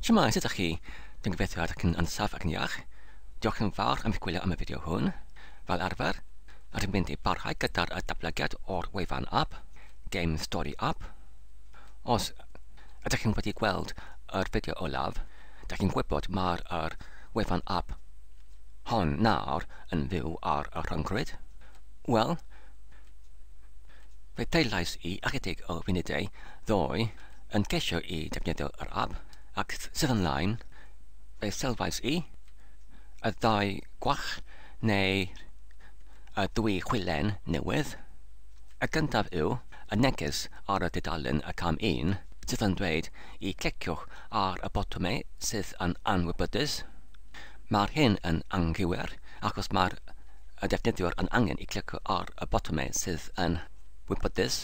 Shwmae, sut ydych chi? Dwi'n gobeithio ydych chi'n ansaf ac yn iach. Diolch yn fawr am eich gwylio am y fideo hwn. Fel arfer, rydym mynd i barhau gyda'r datblygiad o'r wefan app, Game Story App. Os ydych chi'n wedi gweld yr fideo olaf, da chi'n gwybod mae'r er wefan app hon nawr yn fyw ar y rhyngrwyd. Wel, Fe ddeillais i ychydig o funudau ddoe yn ceisio i defnyddio yr ap ac sydd ymlaen, fe sylwais i y ddau gwach neu y dwy chwilen newydd. Y gyntaf yw y neges ar y dudalen y cam un sydd yn dweud i gliciwch ar y botwmau sydd yn anwybydus. Mae'r hyn yn anghywir achos mae'r y defnyddiwr yn angen i clicio ar y botymau sydd yn wybodus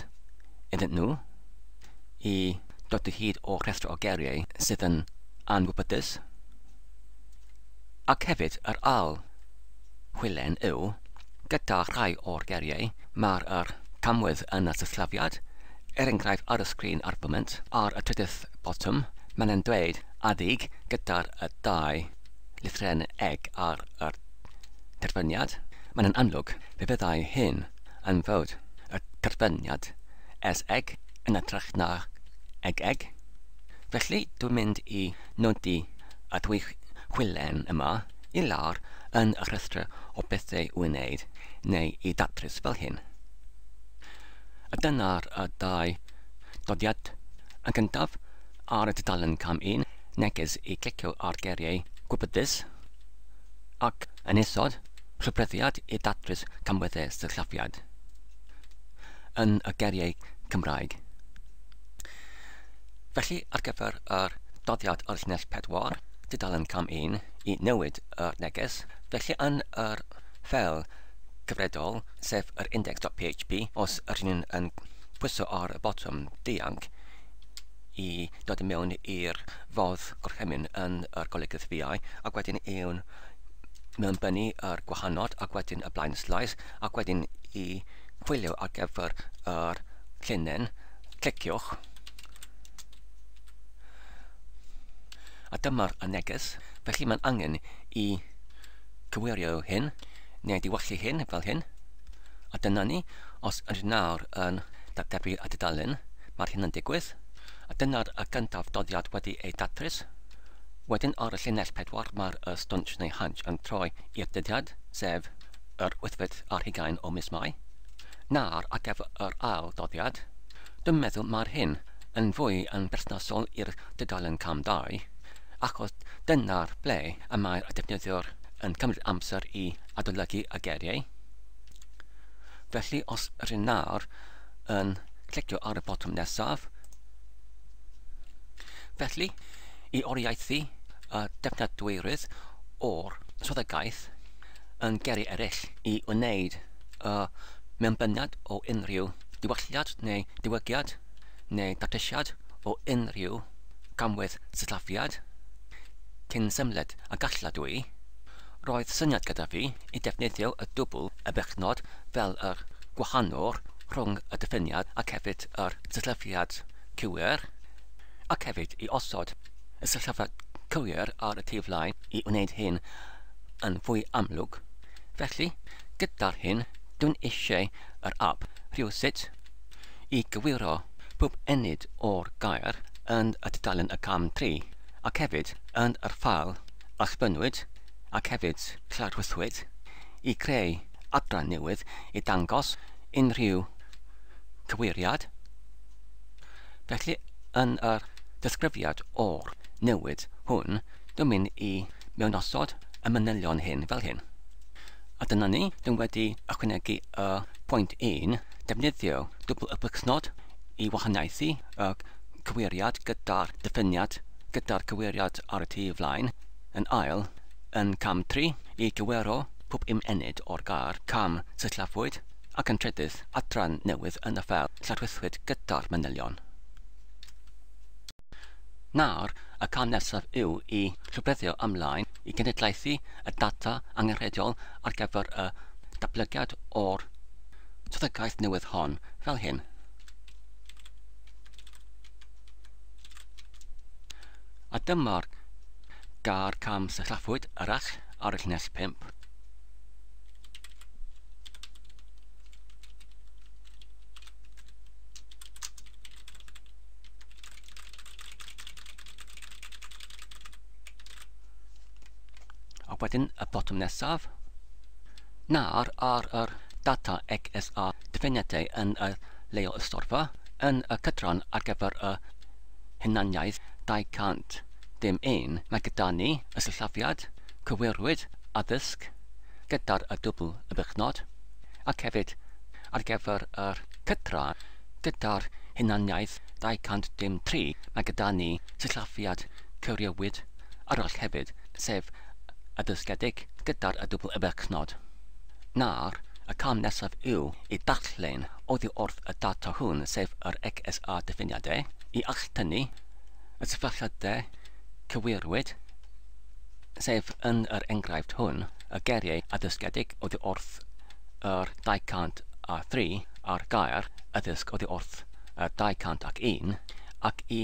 iddyn nhw i dod o hyd o'r rhestr o geiriau sydd yn anwybodus ac hefyd yr ail hwylen yw gyda rhai o'r geiriau mae'r yr camwedd yn y sillafiad er enghraifft ar y sgrin ar y foment ar y trydydd botwm mae'n dweud adeg gyda'r dau lythren eg ar y terfyniad, mae'n yn amlwg fe fyddai hyn yn fod y terfyniad es eg yn hytrach na eg eg. Felly, dwi'n mynd i nodi y ddwy chwilen yma i lawr yn y rhestr o bethau i'w wneud neu i ddatrys fel hyn. A dyna'r dau dodiad. Yn gyntaf, Ar y tudalen cam 1, neges i glicio ar geiriau gwybodus, ac yn isod, rhybuddiad i ddatrys camweddau sillafiad yn y geiriau Cymraeg. Felly, ar gyfer yr doddiad o'r llinell pedwar, tudalen cam 1, i newid yr neges, felly yn yr ffeil gyfredol, sef yr index.php, os yr un yn pwyso ar y botwm dianc, i dod i mewn i'r fodd gorchymyn yn yr golygydd fiau ac wedyn i'w mewnbynnu yr gwahanod ac wedyn y blaen sleis ac wedyn i chwilio ar gyfer yr llinyn cliciwch a dyma'r y neges felly mae'n angen i cywirio hyn neu diwallu hyn fel hyn a dyna ni os ydyn nawr yn datblygu y dudalen Mae'r hyn yn digwydd, a dyna'r y gyntaf doddiad wedi ei datrys. Wedyn ar y llinell pedwar mae'r y stwnsh neu hunch yn troi i'r dyddiad, sef yr wythfed ar hugain o mis Mai. Nawr ar gyfer yr ail doddiad, dwi'n meddwl mae'r hyn yn fwy yn berthnasol i'r dudalen cam dau, achos dyna'r ble y mae'r y defnyddiwr yn cymryd amser i adolygu y geiriau. Felly os rŷn nawr yn clicio ar y botwm nesaf. Felly, i oriaethu y defnyddwyrydd o'r swyddogaeth yn geri eraill i wneud y mewnbyniad o unrhyw ddiwylliad neu diwygiad neu datrysiad o unrhyw gamwedd sillafiad, cyn symled a galla dwy, Roedd syniad gyda fi i defnyddio y dwbl y bechnod fel yr gwahanwr rhwng y diffiniad ac hefyd yr sillafiad cywir, ac hefyd i osod y sillafiad cywir ar y tu flaen i wneud hyn yn fwy amlwg. Felly, gyda'r hyn, dwi'n eisiau yr app rhywsut i gywiro pob ennyd o'r gair yn y tudalen y cam tri, ac hefyd yn yr ffael a chwynnwyd, ac hefyd cladwythwyd, i greu adran newydd i ddangos unrhyw gyweiriad. Felly, yn yr ddisgrifiad o'r newid hwn, dwi'n mynd i mewnosod y manylion hyn fel hyn. A dyna ni, dwi'n wedi ychwanegu y pwynt 1, defnyddio dwbl y plygsnod i wahaniaethu y cyweiriad gyda'r diffiniad gyda'r cywiriad ar y tu flaen, yn ail, yn cam tri, i gywiro pob ymennydd o'r gair 'cam' sillaffwyd, ac yn trydydd, adran newydd yn y ffel lladrwythwyd gyda'r manylion. Nawr, y cam nesaf yw i rhybuddio ymlaen i genedlaethu y data angenrheidiol ar gyfer y datblygiad o'r swyddogaeth newydd hon, fel hyn. A dyma'r gair cam sillaffwyd arall ar y llinell 5. wedyn y botwm nesaf Nawr ar yr data XSA dyfyniadau yn y Leol Ystorfa yn y cydran ar gyfer y hunaniaeth 200. Dim un. Mae gyda ni y sillafiad, cywirwyd, addysg, gyda'r y dwbl y bychnod, ac hefyd ar gyfer yr cydran gyda'r hunaniaeth 200 dim tri. Mae gyda ni sillafiad, cywiriwyd, arall hefyd. sef y dysgedig gyda'r y dwbl y berchnod. Nawr, y cam nesaf yw i ddarllen oddi wrth y data hwn, sef yr XSA diffiniadau, i alltynnu y sefylliadau cywirwyd, sef yn yr enghraifft hwn, y geiriau addysgedig oddi wrth yr 203 a'r gair addysg oddi wrth y 201, ac i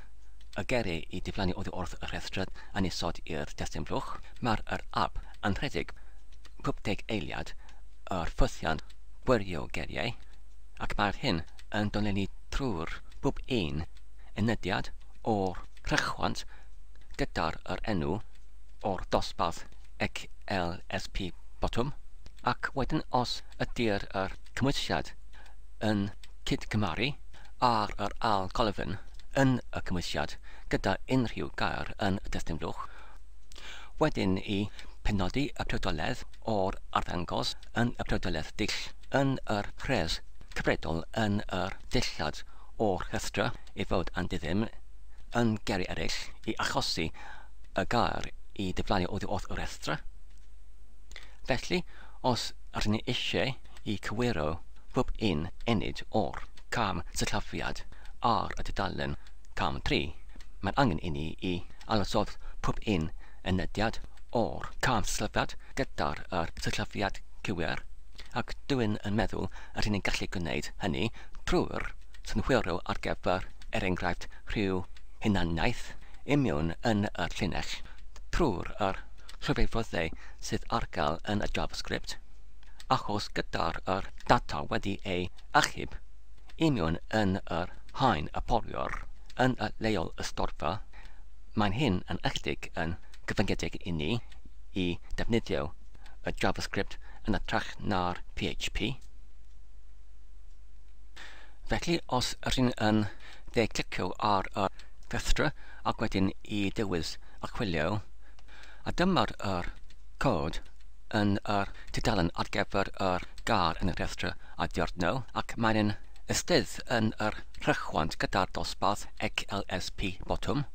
Ap y Gerri i diflannu oddi wrth y rhestrad yn isod i'r testun blwch. Mae'r yr Ap yn rhedeg pub deg eiliad yr ffythiant gwirio geriau ac mae'r hyn yn dolennu trwy'r pub un unediad o'r rhychwant gyda'r yr enw o'r dosbarth XLSP botwm ac wedyn os ydy'r yr cymwysiad yn cydgymaru ar yr ail golofn yn y cymwysiad gyda unrhyw gair yn y testun fluwch. Wedyn i penodi y priodoledd o'r arddangos yn y priodoledd dull yn yr rhes cyfredol yn yr dillad o'r rhestra i fod yn diddim yn geri eraill i achosi y gair i diflannu oddi wrth y rhestra. Felly, os rydyn ni eisiau i cywiro pob un ennyd o'r cam sillafiad ar y tudalen Cam Tri, mae'n angen inni i alysod pob un enediad o'r cam sillafiad gyda'r yr sillafiad cywir, ac dwyn yn meddwl yr hyn yn gallu gwneud hynny trwy'r synhwyro ar gyfer, er enghraifft, rhyw hunaniaeth imiwn yn yr llinell, trwy'r yr llwyfefoddau sydd ar gael yn y JavaScript. achos gyda'r yr data wedi ei achub i mewn yn yr haen a foliwr yn y leol ysgorfa, mae'n hyn yn ychydig yn gyfyngedig i ni i ddefnyddio y JavaScript yn ytrach na'r PHP. Felly, os rydyn yn dde clicio ar y rhestr ac wedyn i dewis achwilio, a dyma'r yr cod yn yr tudalen ar gyfer yr gair yn y rhestr a diarno ac mae'n yn ystydd yn yr rhychwant gyda'r dosbarth XLSP botwm.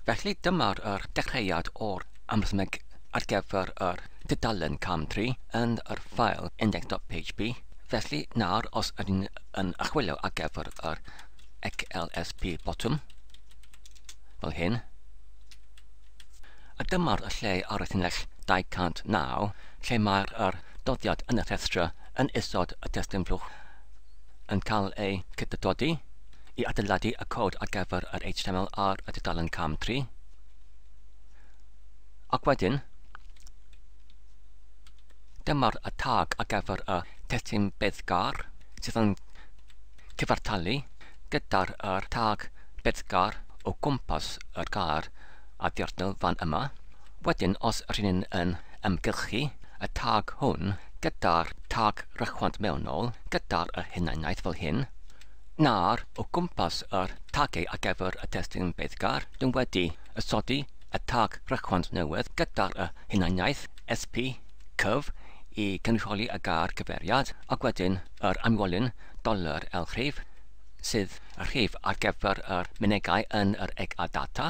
Felly dyma'r yr dechreuad o'r amrysmeg ar gyfer yr tudalen cam 3 yn yr ffael index.php. Felly nawr os ydyn yn achwilio ar gyfer yr XLSP botwm fel hyn, A dyma'r lle ar y llinell 209 lle mae'r er doddiad yn y rhestra yn isod y testun blwch yn cael ei cydydodi i adeiladu y cod ar gyfer yr HTML ar y dudalen cam 3. Ac wedyn, dyma'r y tag ar gyfer y testun beddgar sydd yn cyfartalu gydag yr tag Beddgar o gwmpas yr gair a dirnel fan yma. Wedyn os rŷn ni'n yn ymgylchu y tag hwn gyda'r tag rychwant mewnol gyda'r y hunaniaeth fel hyn, nawr o gwmpas yr tagau ar gyfer y testun Beddgar dyn wedi ysodi y tag rychwant newydd gyda'r y hunaniaeth sp cyf i gynrychioli y gair cyfeiriad ac wedyn yr anwolyn Dolur L Rhif, sydd y rhif ar gyfer yr mynegai yn yr egg a data,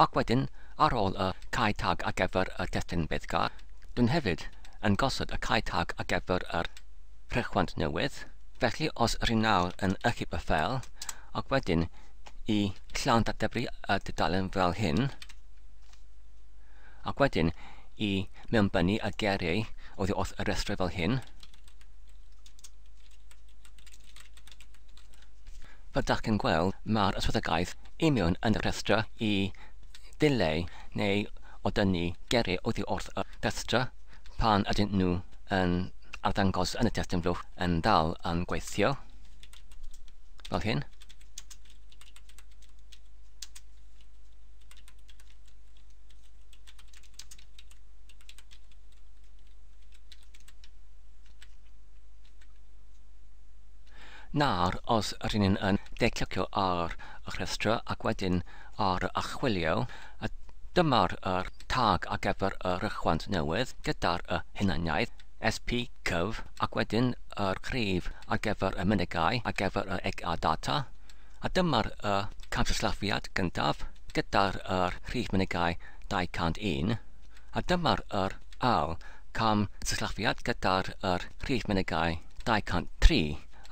ac wedyn ar ôl y cae tag ar gyfer y testun beiddgar, dwn hefyd yn gosod y cae tag ar gyfer yr rhechwant newydd, felly os yr un nawr yn ychyb y ffeil, ac wedyn i llawn dateblu y dudalen fel hyn, ac wedyn i mewnbynnu y geiriau oddi wrth y rhestr fel hyn, Fel dach chi'n gweld, mae'r yswyddogaeth union yn y rhestr i ddileu neu o dynnu geri oddi wrth y rhestr pan ydyn nhw yn arddangos yn y testun flwch yn dal yn gweithio, fel hyn. Nawr, os rŷn ni'n yn declicio ar y rhestr ac wedyn ar y Archwilio, a dyma'r er tag ar gyfer y rhychwant newydd gyda'r y hunaniaeth, SP cyf, ac wedyn yr cryf ar gyfer y mynegai ar gyfer y eg a data, a dyma'r y camsillafiad gyntaf gyda'r y rhif mynegai 201. a dyma'r yr ail cam sillafiad gyda'r yr rhif mynegai 203,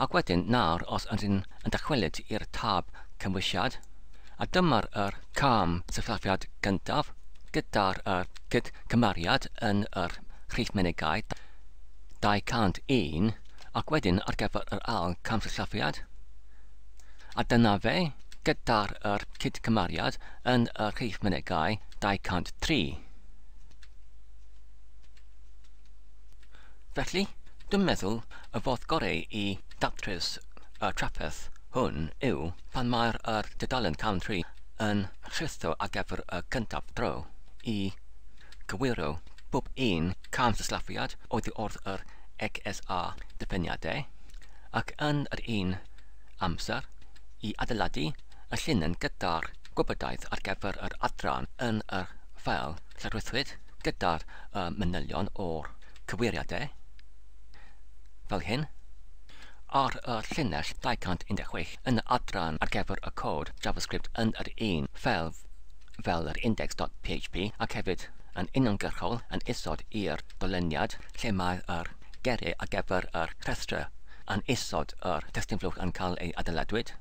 ac wedyn nawr os ydyn yn dychwelyd i'r tab cymwysiad, a dyma'r yr cam sillafiad gyntaf gyda'r yr cyd cymariad yn yr rhif mynegai 201, ac wedyn ar gyfer yr ail cam sillafiad, A dyna fe, gyda'r yr cydcymariad yn y rhif mynegai 203. Felly, dwi'n meddwl y fodd gorau i datrys y trafferth hwn yw pan mae'r yr dudalen cawn tri yn rhitho ar gyfer y cyntaf dro i gywiro bob un camsillafiad oddi wrth yr XSA ddiffiniadau. ac yn yr un amser i adeiladu y llinyn gyda'r gwybodaeth ar gyfer yr adran yn y ffeil llygrwythwyd gyda'r y manylion o'r cyweiriadau, fel hyn, ar y llinell 216 yn y adran ar gyfer y cod JavaScript yn yr un ffeil fel yr index.php ac hefyd yn uniongyrchol yn isod i'r doleniad lle mae yr geiriau ar gyfer yr rhestrau yn isod yr testun flwch yn cael ei adeiladwyd,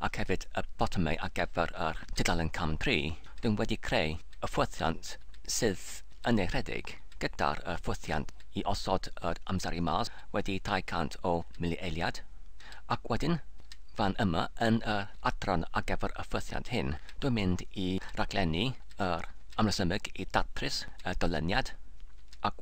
ac hefyd y botymau ar gyfer yr tudalen cam tri, rwy'n wedi creu y ffwythiant sydd yn ei rhedeg gyda'r y ffwythiant i osod yr amseru mas wedi 200 o mili-eiliad, ac wedyn fan yma yn yr adran ar gyfer y ffwythiant hyn, rwy'n mynd i raglennu yr amresymeg i ddatrys y dolyniad, ac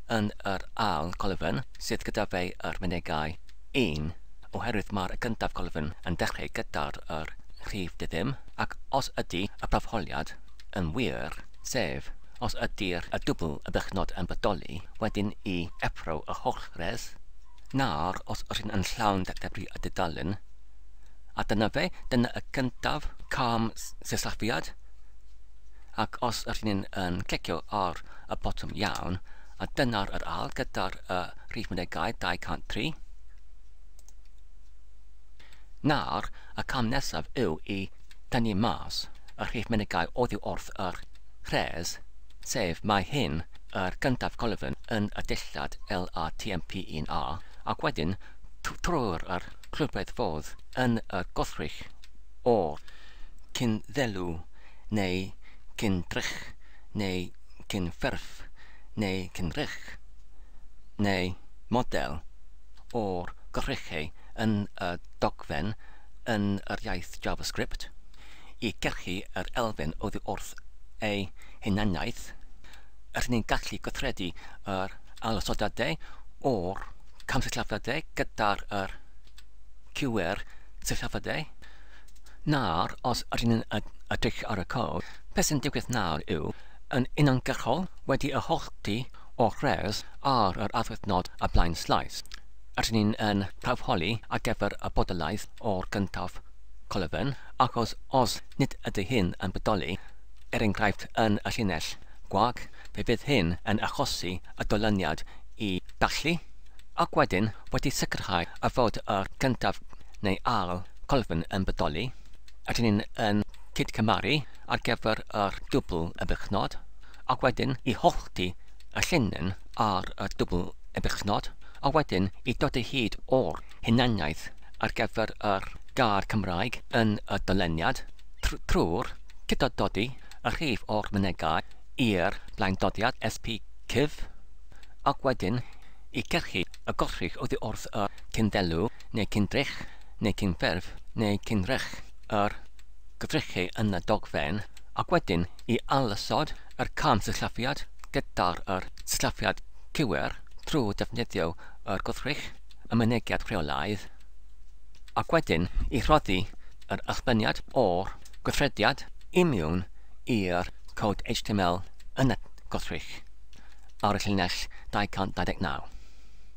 yn yr ail golofn, sydd gyda fe yr mynegai 1, oherwydd mae'r gyntaf golofn yn dechrau gyda'r yr rhif diddim, ac os ydy y proffoliad yn wir, sef, os ydy'r y dwbl y bychnod yn bodoli, wedyn i effro y holl res, nawr os yr hyn yn llawn debri y dudalen, a dyna fe, dyna y gyntaf cam sillafiad, ac os ydyn ni'n yn clicio ar y botwm iawn, a dyna'r yr al gyda'r y rhif mynegai 203, nawr y cam nesaf yw i dynnu mas y rhif mynegai oddi wrth yr rhes, sef mae hyn yr gyntaf colofn yn y dillad LATMP1A, ac wedyn trwy'r yr clwbedd fodd yn y gwrthrych o'r cyn-ddelw. neu cyn drych, neu cyn ffurf, neu cyn drych, neu model o'r gorchegau yn y dogfen yn yr iaith JavaScript i gyrchu yr elfen oddi wrth ei hunaniaeth, rydyn ni'n gallu gweithredu yr ailosodiadau o'r camsillafiadau gyda'r QR sillafiadau. nawr, os ydyn ni'n edrych ar y cod, beth sy'n digwydd nawr yw, yn uniongyrchol, wedi y holl du o rhes ar yr adfyrnod y blaen slaes, ydyn ni yn prawfholi ar gyfer y bodolaeth o'r gyntaf colofn, achos os nid ydy hyn yn bodoli, er enghraifft yn y llinell gwag, fe fydd hyn yn achosi y dolyniad i ddathlu, ac wedyn wedi sicrhau y fod y gyntaf neu ail Colvin yn bodoli, rydyn ni yn cyd-cymharu ar gyfer yr dwbl ebechnod, a wedyn i hollti y llinyn ar y dwbl ebechnod, a wedyn i dodi hyd o'r hunaniaeth ar gyfer yr gair Cymraeg yn y doleniad trwy'r cydod-dodi y rhif o'r mynegai i'r blaendodiad SPCyf, ac wedyn i gyrchu y gollrig oddi wrth y cyn-ddelw neu cyn-drych. neu cyn-ffurf neu cyn-rech yr gyfrechu yn y dogfen, ac wedyn i ailosod yr camsillafiad gyda'r yr sillafiad cywir trwy ddefnyddio yr gwrthrych y mynegiad rheolaidd, ac wedyn i rhoddi yr ysbyniad o'r gweithrediad i miwn i'r cod HTML yn y gwrthrych ar y llinell 229.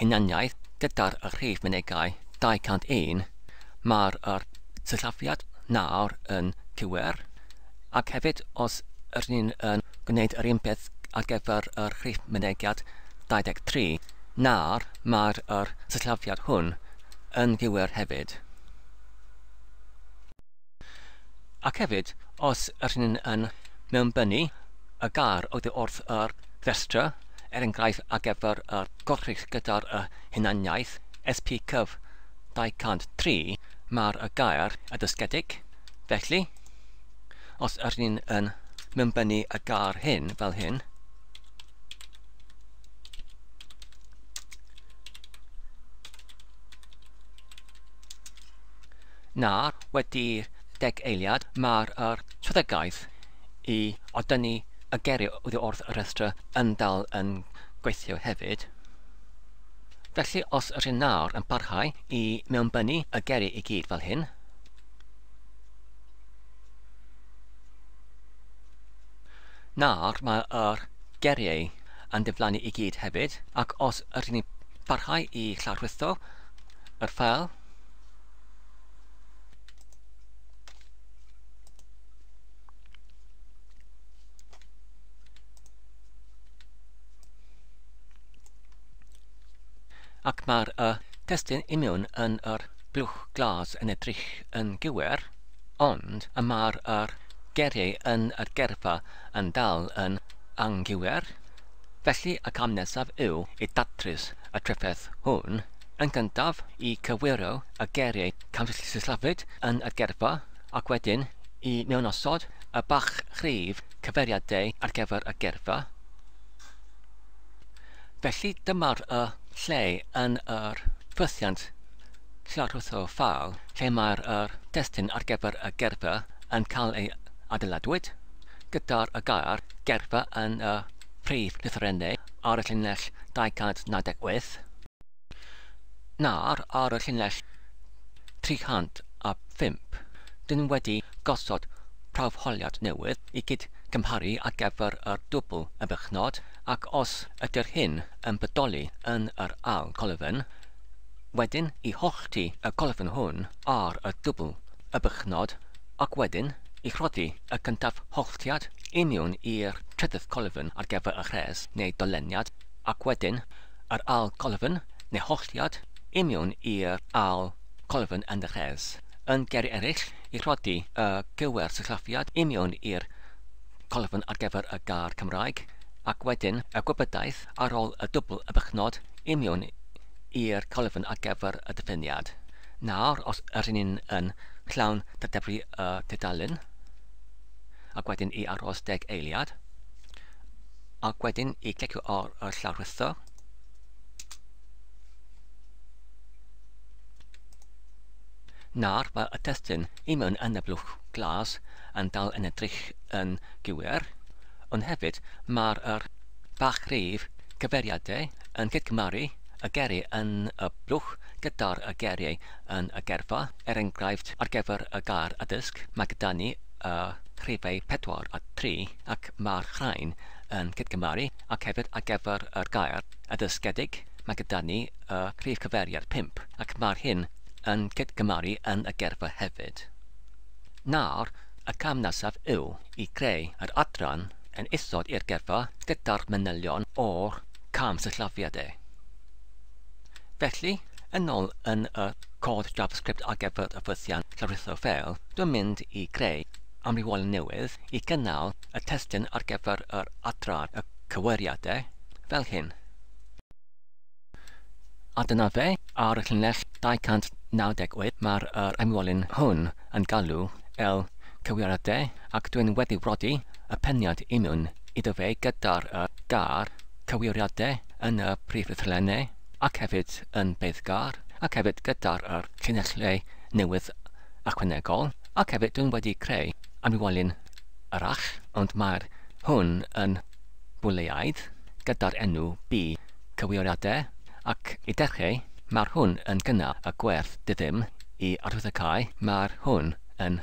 hunaniaeth gyda'r rhif mynegai 201, mae'r yr sillafiad nawr yn cywir, ac hefyd os ydyn ni'n yn gwneud yr un peth ar gyfer yr rhif mynegiad 23, nawr mae'r yr sillafiad hwn yn gywir hefyd. Ac hefyd, os ydych chi'n yn mewnbynnu y gar oddi wrth y rhestra, er enghraifft ar gyfer y gwrthrych gyda'r hunaniaeth, SPCyf 203, mae'r gair adysgedig, felly, os ydych chi'n yn mewnbynnu y gar hyn fel hyn, na wedi'r deg eiliad mae'r strategaeth i odynnu y geiriau oddi wrth y rhestr yn dal yn gweithio hefyd. Felly os ydych chi'n nawr yn parhau i mewnbynnu y geiriau i gyd fel hyn, Nawr mae'r geriau yn diflannu i gyd hefyd, ac os ydych chi'n parhau i llawrlwytho yr ffeil, Ac mae'r y testun imiwn yn yr blwch glas yn edrych yn gywir, ond y mae'r yr geriau yn yr gerfa yn dal yn anghywir. Felly y cam nesaf yw i datrys y trefedd hwn. Yn gyntaf, i gywiro y geiriau camsillafiad yn y geirfa, ac wedyn i mewnosod y bachgrif cyfeiriadau ar gyfer y geirfa. Felly dyma'r y lle yn yr ffythiant llarwtho ffal lle mae'r yr destun ar gyfer y geirfa yn cael ei adeiladwyd, gyda'r y gair geirfa yn y prif lythrennau ar y llinell 298. Nawr ar y llinell 305, dyn ni wedi gosod prawfholiad newydd i gyd-gymharu ar gyfer yr dwbl y bychnod ac os ydy'r hyn yn bodoli yn yr ail golofn, wedyn i hollti y golofn hwn ar y dwbl y bychnod ac wedyn i rhoddi y cyntaf holltiad i miwn i'r trydydd colofn ar gyfer y rhes neu doleniad ac wedyn Yr ail golofn, neu holliad, i mewn i'r ail golofn yn y rhes. Yn geri eraill, i rhoddi y gywer sillafiad i mewn i'r colofn ar gyfer y gair Cymraeg, ac wedyn y gwybodaeth ar ôl y dwbl y bychnod i mewn i'r colofn ar gyfer y diffiniad. Nawr, os ydyn ni'n yn llawn dateblu y tudalen, ac wedyn i aros deg eiliad, ac wedyn i glicio ar y llawr rhithw. Nawr mae y testyn i mewn yn y blwch glas yn dal yn edrych yn gywir, ond hefyd mae'r er bach rif cyfeiriadau yn cydgymaru y geri yn y blwch gyda'r y geriau yn y gerfa. Er enghraifft, ar gyfer y gair addysg, mae gyda ni y rhifau pedwar a tri ac mae'r rhain yn cydgymharu ac hefyd ar gyfer yr gair addysgedig mae gyda ni y rhif cyfeiriad pump ac mae'r hyn yn cydgymharu yn y gerfa hefyd. Nawr, y cam nesaf yw i greu yr adran yn isod i'r gerfa gyda'r manylion o'r cam sillafiad e. Felly, yn ôl yn y cod JavaScript ar gyfer y ffythiant llawrlwytho ffeil, dwi'n mynd i greu amrywiolyn newydd i gynnal y testun ar gyfer yr adran y cyweriadau, fel hyn. A dyna fe, ar y llinell 298 mae'r yr amrywiolyn hwn yn galw el cyweriadau ac dwi'n wedi brodi y peniad i mewn iddo fe gyda'r y gar, cywiriadau yn y prif ddarllenau ac hefyd yn beiddgar, ac hefyd gyda'r yr llinellau newydd ychwanegol, ac hefyd dwi'n wedi creu amrywiolyn arall, ond mae'r hwn yn bwleiaidd gyda'r enw bu cywiriadau, ac i dechreu mae'r hwn yn gynnal y gwerth dyddym i arwyddocau, mae'r hwn yn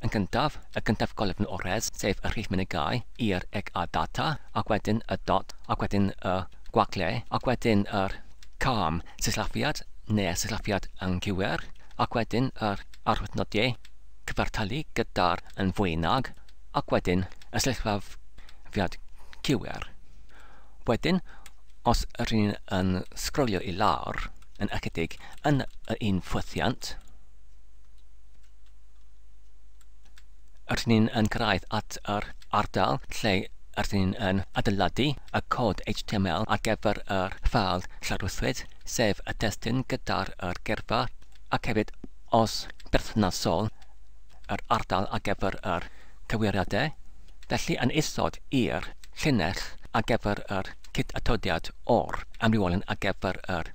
Yn gyntaf, y gyntaf golefn o res, sef y rhif mynegai, i'r eg a data, ac wedyn y dot, ac wedyn y gwagle, ac wedyn yr cam sillafiad neu'r sillafiad anghywir, ac wedyn yr arwyddnodiau cyfartalu gyda'r yn fwy nag, ac wedyn y sillafiad cywir. Wedyn, os rydyn ni'n yn sgrolio i lawr, yn ychydig, yn y un ffwythiant, Rydyn ni'n yn cyrraedd at yr ardal lle rydyn ni'n yn adeiladu y cod HTML ar gyfer yr ffeil lawrlwythwyd, sef y testun gyda'r yr geirfa, ac hefyd, os berthnasol, yr ardal ar gyfer yr cywiriadau. Felly, yn isod i'r llinell ar gyfer yr cyd-atodiad o'r amrywiolyn ar gyfer yr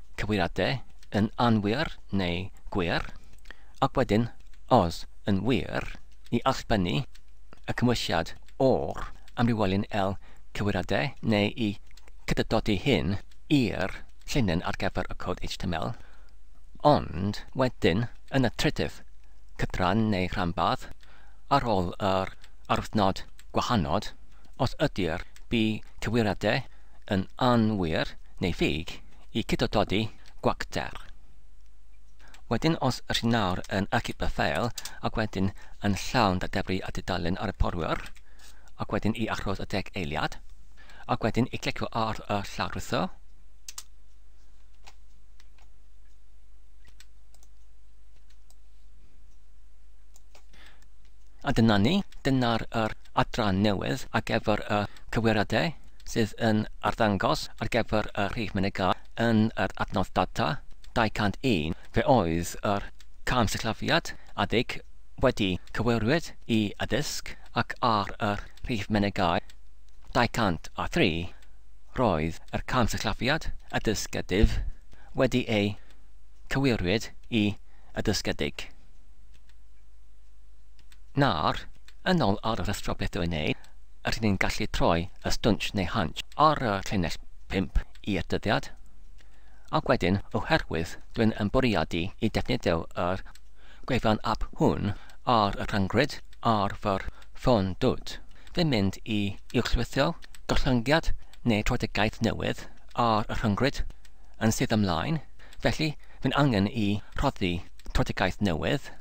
cywiriadau yn anwir neu gwir, ac wedyn, os yn wir, i allbynnu y cymwysiad o'r amrywiolyn L cywiriadau neu i cydydodi hyn i'r llinyn ar gyfer y cod HTML, ond wedyn yn y trydydd cydran neu rhanbarth ar ôl yr arwythnod gwahanod, os ydy'r B cywiriadau yn anwir neu ffug i cydododi gwacter. Wedyn os ydych chi nawr yn achub y ffeil ac wedyn yn llawn da debri a dudalen ar y porwyr, ac wedyn i achos y deg eiliad, ac wedyn i clicio ar y llawrlwytho, A dyna ni, dyna'r yr adran newydd ar gyfer y cywiriadau. sydd yn arddangos ar gyfer y rhif mynegai yn yr adnodd data 201, fe oedd yr cam sillafiad adeg wedi cyfeiriwyd i addysg ac ar yr rhif mynegai 203, roedd yr cam sillafiad addysgedig wedi ei cyfeiriwyd i addysgedig. Nawr, yn ôl ar yr athro beth yw'n ei, rydyn ni'n gallu troi y stwnsh neu hunch ar y llinell 5 i'r dyddiad, ac wedyn, oherwydd dwi'n yn bwriadu i defnyddio yr gwefan app hwn ar y rhyngrwyd ar fy ffôn dwt, fi'n mynd i uwchlwytho gollyngiad neu trafodaeth newydd ar y rhyngrwyd yn sydd ymlaen, felly fi'n angen i rhoddi trafodaeth newydd.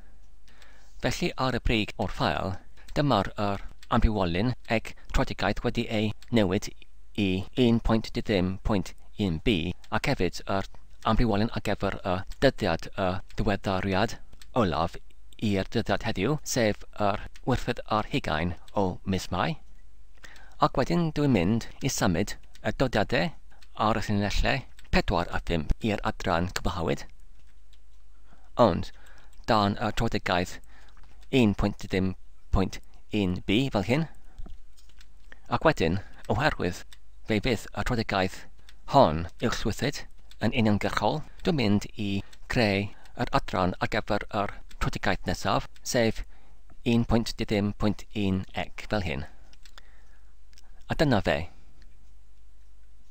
Felly ar y brig o'r ffael, dyma'r yr ambiwolyn ec troedigaeth wedi ei newid i 1.10.1b ac hefyd yr ambiwolyn ar gyfer y dyddiad y diweddariad olaf i'r dyddiad heddiw, sef yr wythfed ar hugain o mis Mai. Ac wedyn dwi'n mynd i symud y dodiadau ar y llinellau 4 a 5 i'r adran cyfathawyd. Ond, dan y troedfegaeth 1.30.1b fel hyn, ac wedyn, oherwydd fe fydd y troedfegaeth hon uwchlywyddyd yn uniongyrchol, dwi'n mynd i greu yr adran ar gyfer yr troedfegaeth nesaf, sef 1.30.1 ec, fel hyn. A dyna fe.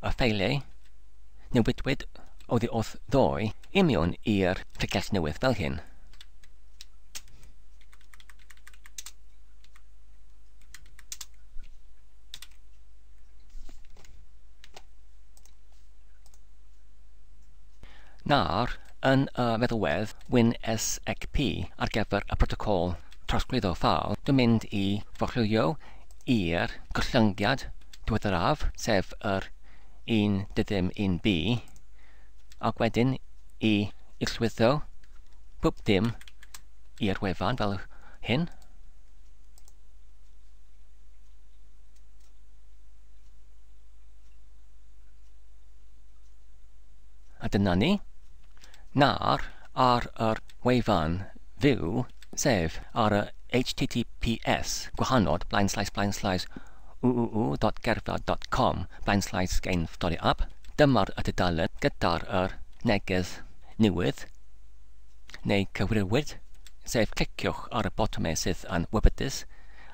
a ffeiliau newidwyd oddi wrth ddoi i mewn i'r pregeth newydd fel hyn. na'r yn y feddwedd WinSXP ar gyfer y protocol trosglwyddo ffal dwi'n mynd i forchwilio i'r gollyngiad diweddaraf, sef yr 1 dy ddim 1b, ac wedyn i islwyddo pob dim i'r wefan fel hyn. A dyna ni. Nawr, ar yr wefan fyw, sef ar y HTTPS gwahanol, blaen slaes, blaen slaes, www.gerdded.com blaenslaes Gain Story Up Dyma'r tudalen gyda'r yr neges newydd neu cyfrifiwyd, sef cliciwch ar y botymau sydd yn wybydus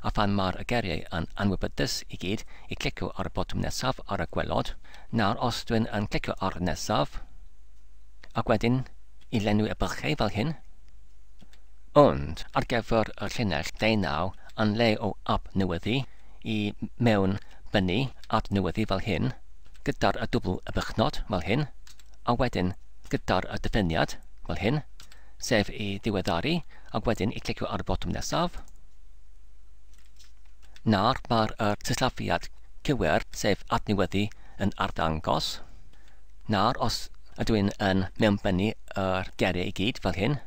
a phan mae'r y geriau yn anwybydus i gyd i clicio ar y botwm nesaf ar y gwelod, nawr os dwi'n yn clicio ar y nesaf ac wedyn i lenwi y bylchau fel hyn, ond ar gyfer y llinell 19 yn lle o adnewyddu i mewn bynnu adnewyddu fel hyn, gyda'r y dwbl y bychnod fel hyn, a wedyn gyda'r y dyfyniad fel hyn, sef i ddiweddaru ac wedyn i clicio ar y botwm nesaf. Nawr mae'r y sillafiad cywir sef adnewyddu yn arddangos. Nawr os ydw i'n yn mewnbynnu yr geiriau i gyd fel hyn,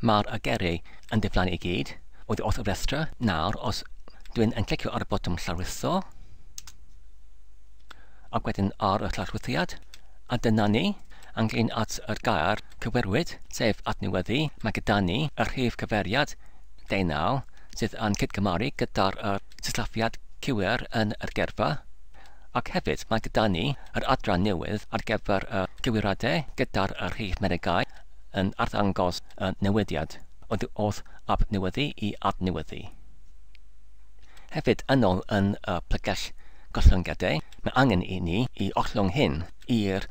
Mae'r ageri yn diflannu i gyd. Oedd wrth y restra. Nawr, os dwi'n yn clicio ar y botwm llawrlwytho, ac wedyn ar y llawrlwythiad, a dyna ni. ynglŷn at yr gair cywerwyd, sef adnewyddu, mae gyda ni y rhif cyfeiriad deunaw sydd yn cydgymaru gyda'r yr sillafiad cywir yn yr gerfa, ac hefyd mae gyda ni yr adran newydd ar gyfer y cywiradau gyda'r y rhif meregau yn arddangos y newidiad oddi wrth abnewyddu i adnewyddu. Hefyd, yn ôl yn y plegell gollyngiadau, mae angen i ni i ollwng hyn i'r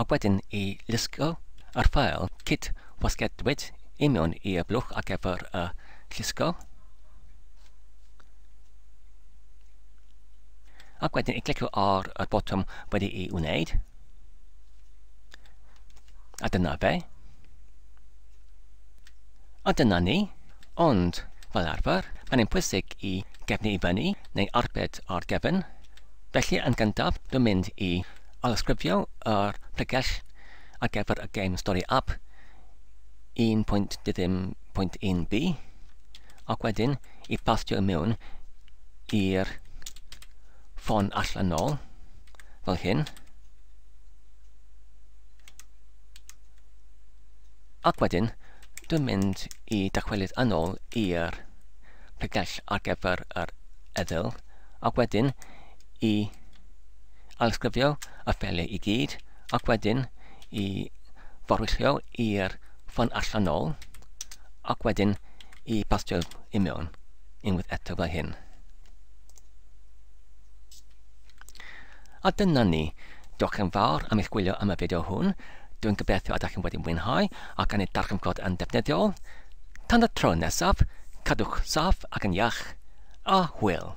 a wedyn i lusgo yr ffeil cyd wasgedwyd i mewn i y blwch ar gyfer y llusgo, ac wedyn i glicio ar y botwm wedi'i wneud, a dyna fe. A dyna ni, ond fel arfer, mae'n pwysig i gefnu i fyny neu arbed ar gefn, Felly yn gyntaf dwi'n mynd i alysgrifio yr pregell ar gyfer y gêm stori app 1.2.1b ac wedyn i bastio i mewn i'r ffon allanol fel hyn ac wedyn dwi'n mynd i dychwelyd yn ôl i'r pregell ar gyfer yr eddyl ac wedyn i ailsgrifio y ffeiliau i gyd, ac wedyn i forwyllio i'r ffon allan nôl, ac wedyn i bastio i mewn unwaith eto fel hyn. A dyna ni. Diolch yn fawr am eich gwylio am y fideo hwn. Dwi'n gobeithio ydych chi'n wedi mwynhau ac yn ei darganfod yn ddefnyddiol. Tan y tro nesaf, cadwch saff ac yn iach. a hwyl.